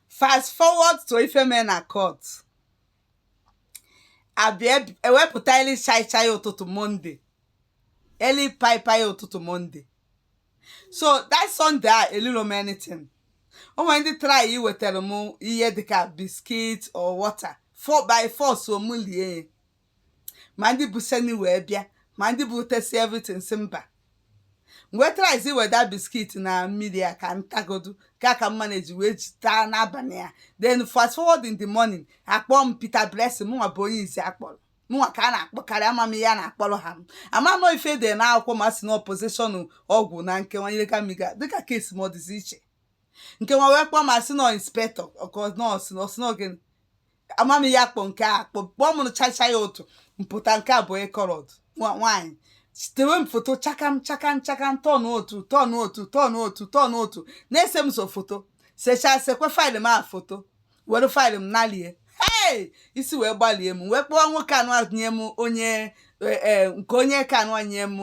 fast forward to ife mee na court a bịa ewepụta eli chaichai ụtụtụ Monday eli paipai ụtụtụ Monday so that Sunday a elilo m anything o nwere ndị try iwetara m ihe dịka biscuit or water four by four so m lie ya ma ndị bụ seni wee bịa ma ndị bụ tesi everything sị mba wee traịzie weta biscuit na mmiri a ka m tagodu ka ka mma na-eji wee ji taa n'abalị ya then fast forward in the morning a kpọọ Peter Blessing mụnwa bụ onye izizi a kpọrọ mụnwa ka a na-akpọkarị ama m ihe a na-akpọrọ ha m ama nọ ife dị na akwụkwọ ma si na possession ọgwụ na nkewa ihe gamiga dịka case m a dịzi iche nke nwa wee kpọọ m sị na inspector ọkọ nọọsụ nọọsụ n'oge amam ya akpọ nke a akpọ mgbe ọ mụrụ chacha ya otu mpụta nke a bụ coloured nwaanyị setewe m foto chakam chakam chakam turn otu turn otu turn otu turn otu na-ese m sọ foto sechaa sekwe file m a foto were file m nalie hey isi wee gbalie m wee kpọọ nwoke anụ a nye m onye e, e, nke onye ka anụ a nye m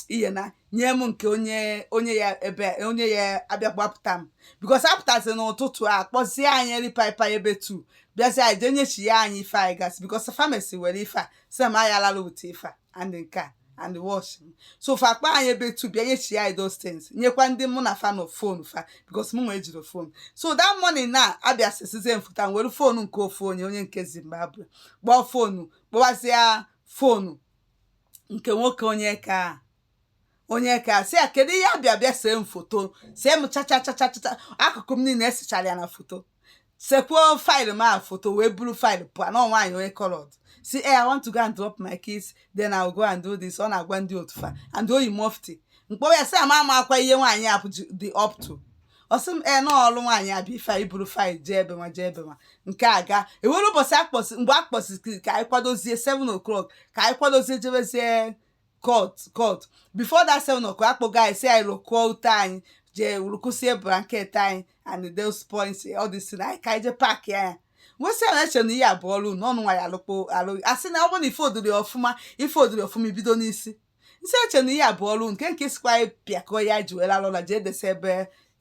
ihe na nye m nke onye onye ya ebe onye ya-abịa gbapụta m because a pụtazie n'ụtụtụ a kpọzie anyị ripaipa ebe tu bịazie anyị jee nyechia anyị ife anyị gasị because famasi were ife a sị m anyị alala ụtụ ife a and nke a and watch m so fa kpọ anyị ebe tu bịa nyechia anyị those things nyekwa ndị mụ na fa nọ phone fa because mụnwa ejirọ phone so that morning na a bịa sesizie m foto m were phone nke ofu onye onye nke Zimbabwe kpọọ phone kpọwazie phone nke nwoke onye ka onye ka sị ya kedu ihe abịa bịa see m foto see m chacha chacha chacha akụkụ m niile e sechara ya na foto sekwuo file m a foto wee buru file pụọ na nwaanyị onye coloured sị e I want to go and drop my kids then I'll go and do this ọ na-agwa ndị otu fa and o yi mufti m kpọwa ya sị ama ama akwa ihe nwaanyị a dị up to ọ sị m ee na ọrụ nwaanyị abịa ife anyị buru file jee ebe nwa jee ebe nwa nke a gaa ewere ụbọchị akpọsị mgbe a kpọsịrị ka anyị kwadozie 7 o'clock ka anyị kwadozie jebezie court court before that 7 o'clock akpọgo anyị sị anyị rụkụọ ute anyị jee rụkụsie blanket anyị and those points ọ dị si na anyị ka anyị jee pack ya nwesị a na-eche na ihe abụọ ọrụ na ọnụ nwa ya alụkpo alụ asị na ọ bụrụ na ife ọ dịrọ ọfụma ife ọ dịrọ ọfụma i bido n'isi nsị eche na ihe a bụ ọrụ nke nke sikwa anyị pịakọ ya ji were alụla ji edesa ebe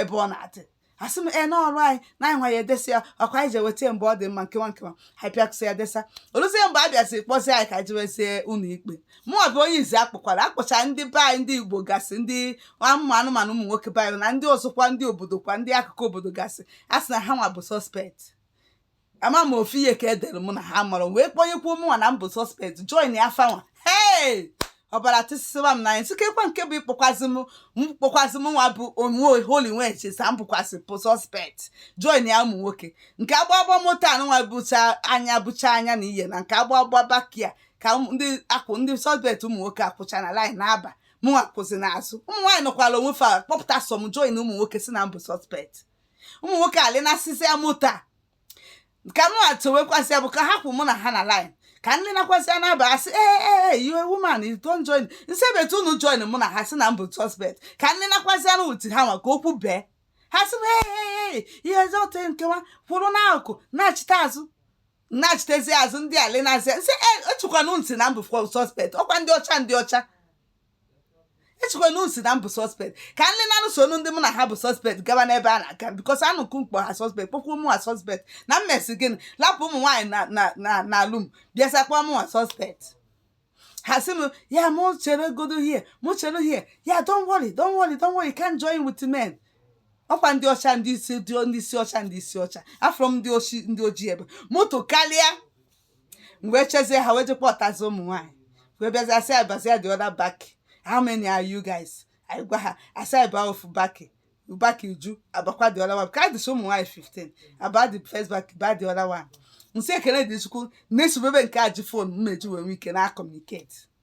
ebe ọ na-adị asị m ee n'ọrụ anyị na anyị nwa ya edesa ya ọkwa anyị ji eweta mgbe ọ dị mma nkewa nkewa anyị pịakụsị ya desa o luzie mgbe a bịaziri kpọzie anyị ka jewezie ụlọ ikpe mụ bụ onye izizi a kpọkwara akpọcha ndị be anyị ndị Igbo gasị ndị ụmụ anụmanụ ụmụ nwoke be anyị na ndị ọzọkwa ndị obodo kwa ndị akụkụ obodo gasị a sị na ha nwa bụ suspect ama m ofu ihe ka e dere mụ na ha mụrụ wee kpọnyekwuo mụnwa na m bụ suspect joinia fanwa hei ọbara tịsịsịwa m n'anya sị kekwa nke bụ ịkpọkwazị m mkpọkwazị m nwa bụ onye holy nweje sa m bụkwasị bụ suspect joinia ụmụ nwoke nke a ga-aba moto anụnwa bụcha anya bụcha anya na ihe na nke a ga-aba baki a ka ndị akwụ ndị suspect ụmụ nwoke akwụcha na line na-aba mụnwa kwụsị n'azụ ụmụ nwaanyị nọkwara onwe fa kpọpụta sọ m join ụmụ nwoke sị na m bụ suspect ụmụ nwoke alainasịsịa moto a ka mụ achọwekwasị ya bụ ka ha kwụ mụ na ha na line ka m lainakwazịa na-aba a sị ee ee ee you are woman you don't join m sị ebe etu unu join mụ na ha sị na m bụ suspect ka m lainakwazịa n'etiti ha nwa ka okwu bee ha sị m ee ee ee ihe ọzọ ote nkewa kwụrụ n'akụkụ na-achịta azụ na-achịtezi azụ ndị alainasịa m sị ee echekwa na unu sị na m bụ suspect ọkwa ndị ọcha ndị ọcha echekwa na unu sị na m bụ suspect ka m laina n'ụsọ ndị mụ na ha bụ suspect gaba n'ebe a na-aga because unu kpọ ha suspect kpọkwuo mụnwa suspect na m mezi gịnị lapụ ụmụ nwaanyị na na na na room bịazịa kpọọ mụnwa suspect ha sị m ya mụ chere godi here mụ chere here don't worry don't worry don't worry you can't join with men ọkwa ndị ọcha ndị isi ndị isi ọcha ndị isi ọcha afọ m ndị ochi ndị ojii ebe moto karịa m wee chezie ha wee je kpọtazị ụmụ nwaanyị wee bịazie a sị anyị bazie the other back how many are you guys anyị gwa ha a sị anyị baa ofu baki baki eju abakwa the other one ka anyị dịsị ụmụ nwaanyị 15 aba the first back ba the other one m sị ekele dị chukwu na-esubebe nke a ji phone m meji wee nwee ike na-acommunicate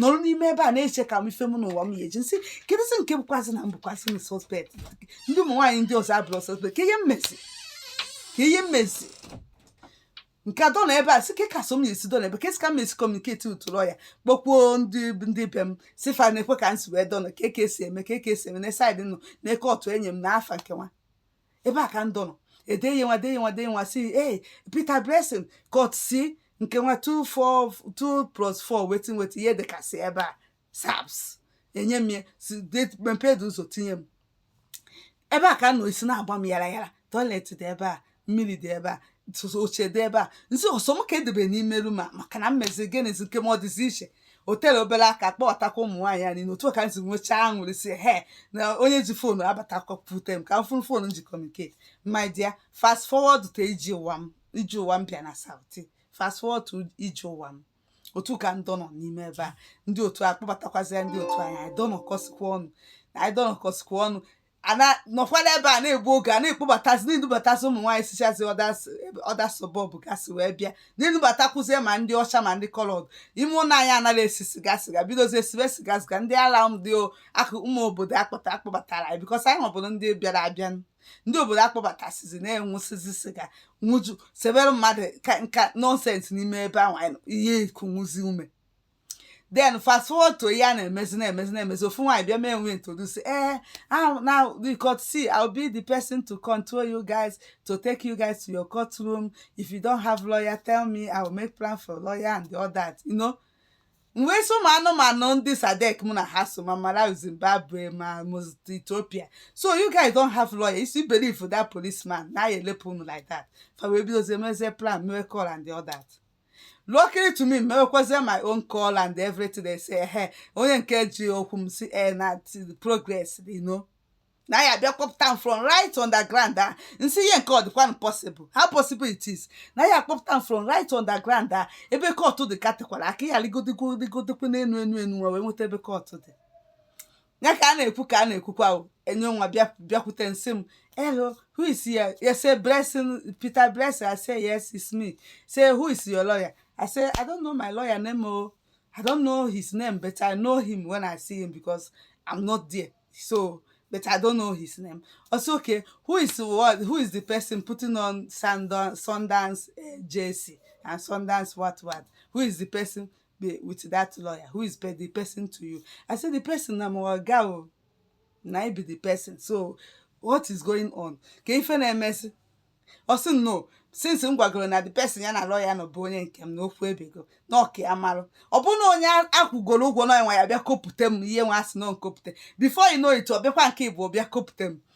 nọrọ n'ime ebe a na-eche ka m ife mụnwa m ga-eji m sị kedụzi nke bụkwazị na m bụkwazị suspect ndị ụmụ nwaanyị ndị ọzọ abụrọ suspect ka ihe m mezi ka ihe m mezi nke a dọla ebe a sị ka so m na-esi dọla ebe kesi ka m esi communicate utụrụ ya kpọkwuo ndị ndị be m sị fa nekwe ka m si wee dọla ka eke esi eme ka eke esi eme na side nọ na-eke ọtụ enye m na afa nke nwa ebe a ka m dọnọ e deye nwa deye nwa deye nwa si ee Peter Blessing kot si nke nwa 2 plus 4 wetin wetin ihe dịkasị ebe a saps enye m ya si mepee dị ụzọ tinye m ebe a ka m nọ isi na-agba m yara yara toilet dị ebe a mmiri dị ebe a oche dị ebe a m sị ọ sọ m ka e debe n'ime room a maka na m mezi gịnịzi nke m ọ dịzi iche o tere obere aka kpọbatakwa ụmụ nwaanyị anyị n'otu a ka m si nwechaa aṅụrị sị hei na onye ji phone abatakwa pute m ka m fụrụ phone ji communicate my dear fast forward to ije ụwa m ije ụwa m bịa na Saudi fast forward to ije ụwa m otu a ka m dọnọ n'ime ebe a ndị otu a kpọbatakwazịa ndị otu anyị anyị dọnọkọsikwa ọnụ anyị dọnọkọsikwa ọnụ a na-anọkwa n'ebe a na-egbu oge a na-ekpobatazi na-edubatasị ụmụ nwaanyị sichazi other suburb gasị wee bịa na-edubatakwuzie ma ndị ọcha ma ndị coloured ime ụlọ anyị anaghị esi siga siga bidozie sibe siga siga ndị ala ndị akụ ụmụ obodo akpọta akpọbatara anyị because anyị họbụrụ ndị bịara abịa ndị obodo akpọbatasizi na-aṅụsịzi siga ṅụju sebere mmadụ nka nonsense n'ime ebe ahụ ihe ikunwụzi ume then fast forward to ihe a na-emezi na-emezi na-emezi ofu nwaanyị bịa mewe introduce eh ahụ now the court see I'll be the person to control you guys to take you guys to your courtroom if you don't have lawyer tell me I will make plan for lawyer and all that you know mụwa sị ụmụ anụmanụ ndị SADC mụ na ha so ma Malawi Zimbabwe ma Mozambique, Ethiopia so you guys don't have lawyer you still believe that policeman na ya elepụ unu like that fa wee bidozie mezie plan mewe call and all that luckily to me mewekwazie my own call and everything they say ehe onye nke ji okwu m si e na progress you know na ya bịa kpọpụta m from right underground a m sị ihe nke ọ dịkwanụ possible how possible it is na ya kpọpụta m from right underground a ebe kọtụ dị ka tekwara aka ya rigodigwo rigodikwu n'enu enu enu wee nweta ebe kọtụ dị ya ka a na-ekwu ka a na-ekwukwa o enye nwa bịa bịakwute nsị m hello who is here ya say blessing peter blessing i say yes it's me say who is your lawyer i say i don't know my lawyer name o i don't know his name but i know him when i see him because i'm not there so but i don't know his name also okay who is what who is the person putting on Sundance, sundance uh, jersey and sundance what what who is the person be with that lawyer who is the person to you i say the person na my oga o na i be the person so what is going on ka ife na-emesi ọ sị no since m gwagoro na the person ya na lawyer nọ bụ onye nke m na okwu ebego na ọ ka ya marụ ọ bụ na onye akwụgoro ụgwọ na nwa ya bịa kpọpụta m ihe nwa a sị na nkopute before you know it ọ bịakwa nke ịbụọ bịa kpọpụta m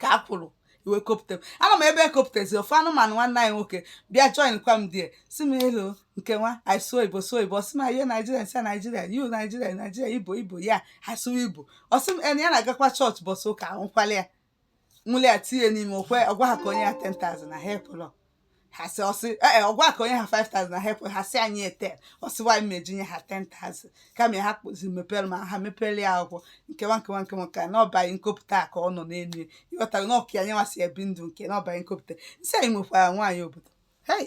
ka a kwụrụ e wee kpọpụta m ama m ebe a kpọpụtazi ofu anụmanụ nwanne anyị nwoke bịa join kwa m there sị m hello nke nwa anyị sụọ igbo sụọ igbo ọ sị m are you Nigeria m sị Nigeria you Nigeria Nigeria ibo ibo ya ha sụwa igbo ọ sị m na ya na-agakwa chọọchị ụbọsị ụka ahụkwala ya nwụli ya tinye n'ime okwe ọ gwa ha ka o nye ha 10,000 na ha ekwelọ ha sị ọ sị ee ọ gwa ka o nye ha 5000 na ha ekwe ha sị ya nye 8 ọ sị nwaanyị m eji nye ha 10000 kama ya ha kpụzi mepere ma ha mepere ya akwụkwọ nkewa nkewa nkewa nke a na ọ baghị na computer a ka ọ nọ n'elu ya ị ghọtara na ọ ka ya nyewa si ebi ndụ nke na ọ baghị na computer m sị anyị nwekwara nwaanyị obodo hei